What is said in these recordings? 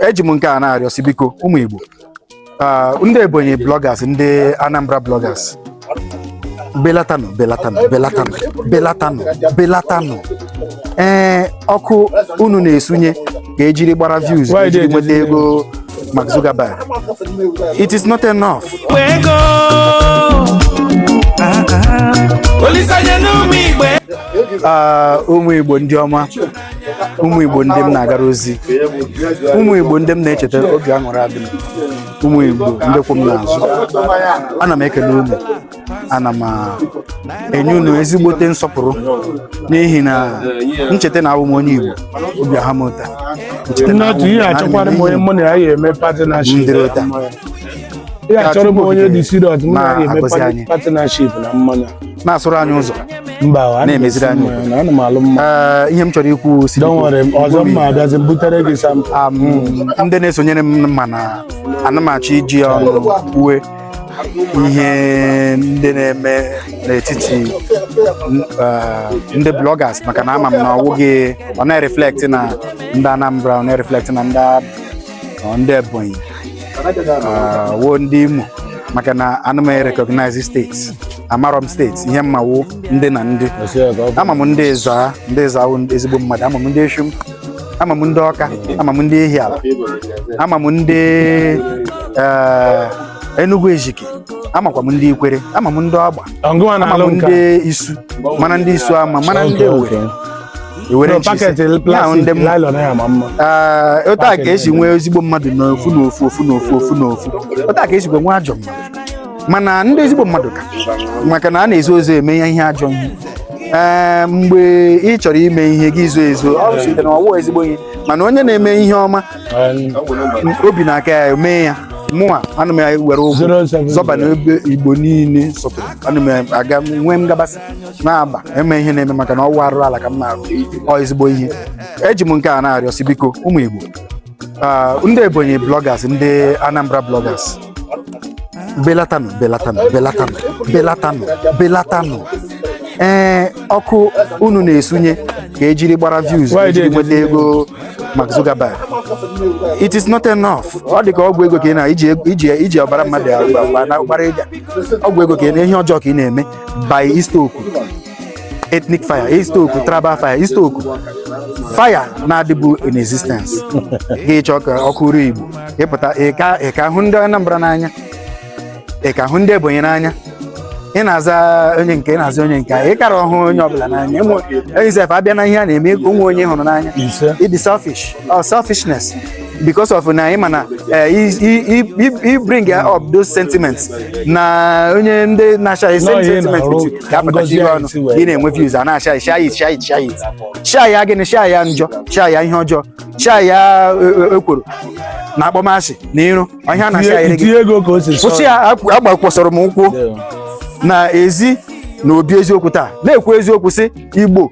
eji m nke a na-arịọ sị biko ụmụ Igbo ah, ndị Ebonyi bloggers ndị Anambra bloggers belatanụ belatanụ belatanụ belatanụ belatanụ ee eh, ọkụ unu na-esunye ka ejiri gbara views ka ejiri nweta ego Mark Zuckerberg it is not enough ah, ah. ụmụ Igbo ndị ọma ụmụ igbo ndị m na-agara ozi ụmụ igbo ndị m na-echeta obi aṅụrị adị m ụmụ igbo ndị kwụ m n'azụ ana m ekele unu ana m enye unu ezigbote nsọpụrụ n'ihi na ncheta na abụ m onye igbo obi aha m ụta ncheta na abụ m ihe achọkwara m onye mụ na ya ga-eme patinaship Ndịrị ụta. ihe achọrọ m onye dị siriọs mụ na ya ga-eme Na-agọzi anyị. patinaship na mmanya na-asụrụ anyị ụzọ na-emeziri anyị ee, ihe m chọrọ ikwu si um, ndị na-esonyere m ma na ana m achọ iji ọnụ kwue ihe ndị na-eme n'etiti uh, ndị bloggers maka na ama m na ọwụghị ọ na-reflect na ndị Anambra ọ na-reflect na ndị ndị Ebonyi wo ndị Imo maka na ana m recognize steeti amarọ m steeti ihe m ma wụ ndị na ndị ama m ndị Ezza ndị Ezza ezigbo mmadụ ama m ndị Effium ama m ndị ọka ama m ndị Ihiala ama m ndị eh, enugu ezike amakwa m ndị ikwere ama m ndị agba ama m ndị isu mana ndị Isuama mana ndị owere otu a ka esi nwee ezigbo mmadụ n'ofu n'ofu ofu n'ofu ofu n'ofu otu a ka esikwa nwee ajọ mmadụ mana ndị ezigbo mmadụ ka maka na a na-ezo ezo eme ya ihe ajọ ihe ee mgbe ị chọrọ ime ihe gị zo ezo ọ bụ site na ọwụ ezigbo ihe mana onye na-eme ihe ọma obi na-aka ya eme ya mụnwa ana m were ụgwọ zọba na ebe igbo niile sọpụrụ ana m aga nwee ngabasị na-agba eme ihe na-eme maka na ọwụ arụ ala ka m na-arụ ọ ezigbo ihe eji m nke a na-arịọ sị biko ụmụ Igbo ah, ndị Ebonyi bloggers ndị Anambra bloggers belatanụ belatanụ belatanụ belatanụ belatanụ ee ọkụ unu na-esunye ka ejiri gbara views ejiri nweta ego Mark Zuckerberg it is not enough ọ dị ka ọgwụ ego ka ị na iji iji iji ọbara mmadụ agba- agba- na- gbara ịga ọgwụ ego ka ị na ihe ọjọọ ka ị na-eme by i-stoke ethnic fire i-stoke tribal fire i-stoke fire na-adịbu in existence gị chọọ ka ọkụ ruo Igbo ịpụta ị ka ị ka hụ ndị Anambra n'anya ị ka hụ ndị Ebonyi n'anya ị na-aza onye nke ị na-aza onye nke a, ị kara ahụ onye ọbụla n'anya sef abịa na ihe a na-eme o nwe onye ị hụrụ n'anya ịdị selfish or selfishness because of na ịma na i bring up those sentiments na onye ndị na-share same sentiment ga-apụtachi iwe ọnụ ị na-enwe views a na-share share share share share ya gịnị share ya njọ share ya ihe ọjọọ share ya ekworo na akpọmasị na iro ọ ihe a na-share gị kwụsị ya agbakwasịrị m ụkwụ na ezi na obi eziokwu taa na-ekwu eziokwu sị igbo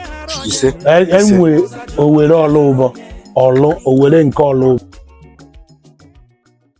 ise E- enwe owere ọlụ ụbọ ọlụ owere nke ọlụ ụbọ